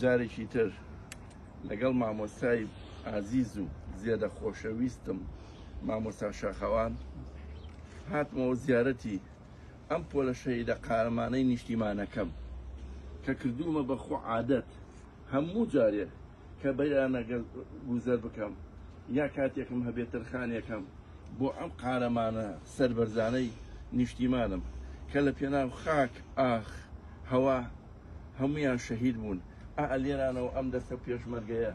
جارێکی تر لەگەڵ مامۆستای ئازیز و زێدە خۆشەویستم مامۆستا شاخەوان هاتمەوە زیارەتی ئەم پۆلە شەهیدە قارەمانەی نیشتیمانەکەم کە کردوومە بە خۆ عادەت هەموو جارێ کە بەیانەگە گوزەر بکەم یا کاتێکم هەبێت ترخانێکەم بۆ ئەم قارەمانە سربەرزانەی نیشتیمانم کە لە پێناو خاک ئاخ هەوا هەموویان شەهید بوون ئا لێرانەوە ئەم دەستە پێشمەرگەیە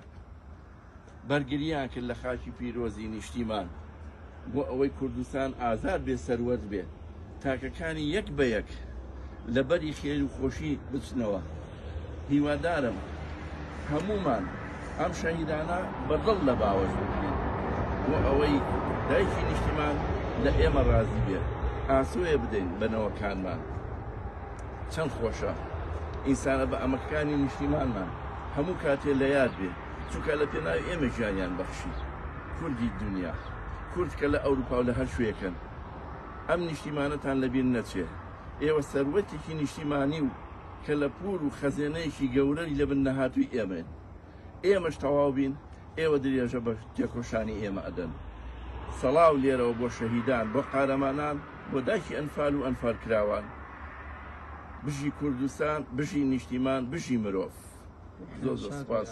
بەرگریان کرد لە خاکی پیرۆزی نیشتیمان بۆ ئەوەی کوردستان ئازاد بێ سەروەت بێ تاکەکانی یەک بە یەک لەبەری خێر و خۆشی بچنەوە هیوادارم هەمومان ئەم شەهیدانە بەدڵ لە باوەش بکرێن بۆ ئەوەی دایکی نیشتیمان لە ئێمە ڕازی بێت ئاسوێ بدەین بەنەوەکانمان چەند خۆشە ئینسانە بە ئەمەکانی نیشتیمانمان هەموو کاتێ لە یاد بێ چونکە لە پێناوی ئێمە ژیانیان بەخشی کوردی دنیا کورد کە لە ئەوروپا و لە هەر شوێکن ئەم نیشتیمانەتان لەبیر نەچێ ئێوە سەروەتێکی نیشتیمانی و کە لە پور و خەزێنەیەکی گەورەی لەبن نەهاتووی ئێمەن ئێمەش تەواو بین ئێوە درێژە بە تێکۆشانی ئێمە ئەدەن سەڵاو لێرەوە بۆ شەهیدان بۆ قارەمانان بۆ داکی ئەنفال و ئەنفال کراوان بژی کوردستان بژی نیشتیمان بژی مرۆڤ زۆر زۆر سپاس.